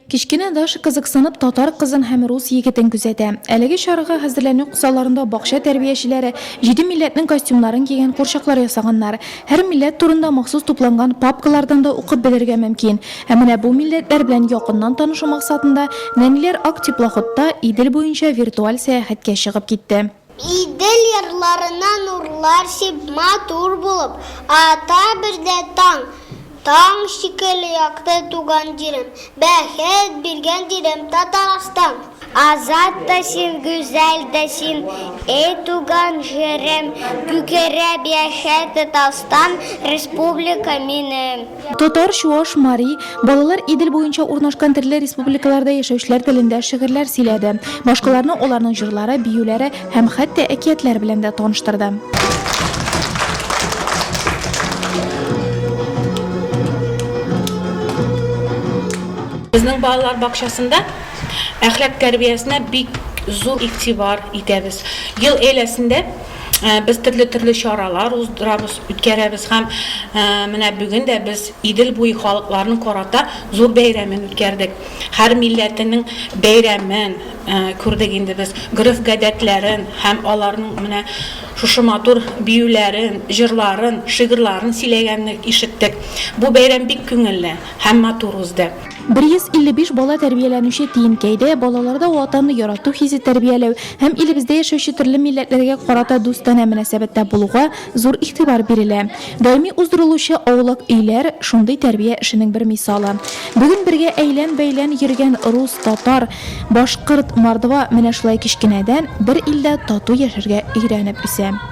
Кечкенә Даша кызыксынып татар кызын һәм рус егетен күзәтә. Әлеге чарага хәзерләнү кысаларында бакча тәрбиячеләре җиде милләтнең костюмнарын кигән курчаклар ясаганнар. Һәр милләт турында махсус тупланган папкалардан да укып белергә мөмкин. Ә менә бу милләтләр белән якыннан танышу максатында нәниләр ак теплоходта Идел буенча виртуаль сәяхәткә чыгып китте. Идел ярларына нурлар сиб Матур булып ата биредә таң. Таң шикелле якты туган җирем, Бәхет биргән җирем, Татарстан. Азат та син, гүзәл дә син, Эй туган җирем, Күкереп яшә Татарстан, Республика минем. Татар, чуаш, мари, балалар Идел буенча урнашкан төрле республикаларда яшәүчеләр телендә шигырьләр сөйләде, башкаларны аларның җырлары, биюләре һәм хәтта әкиятләр белән дә таныштырды. Безнең балалар бакчасында әхлак тәрбиясенә бик зур игътибар итәбез. Ел әйләсендә Без төрле-төрле чаралар уздырабыз, үткәрәбез һәм менә бүген дә без Идел буе халыкларының карата зур бәйрәмен үткәрдек. Һәр милләтенең бәйрәмен күрдек инде без, гореф-гадәтләрен һәм аларның менә шушы матур биюләрен, җырларын, шигырьларын сөйләгәнне ишеттек. Бу бәйрәм бик күңелле һәм матур узды. 155 бала тәрбияләнүче Тиенкәйдә балаларда Ватанны ярату хисе тәрбияләү һәм илебездә яшәүче төрле милләтләргә карата дустана мөнәсәбәттә булуга зур игътибар бирелә. Даими уздырылучы Аулак өйләр, шундый тәрбия эшенең бер мисалы. Бүген бергә әйлән-бәйлән йөргән рус, татар, башкорт, мордва менә шулай кечкенәдән бер илдә тату яшәргә өйрәнеп үсә.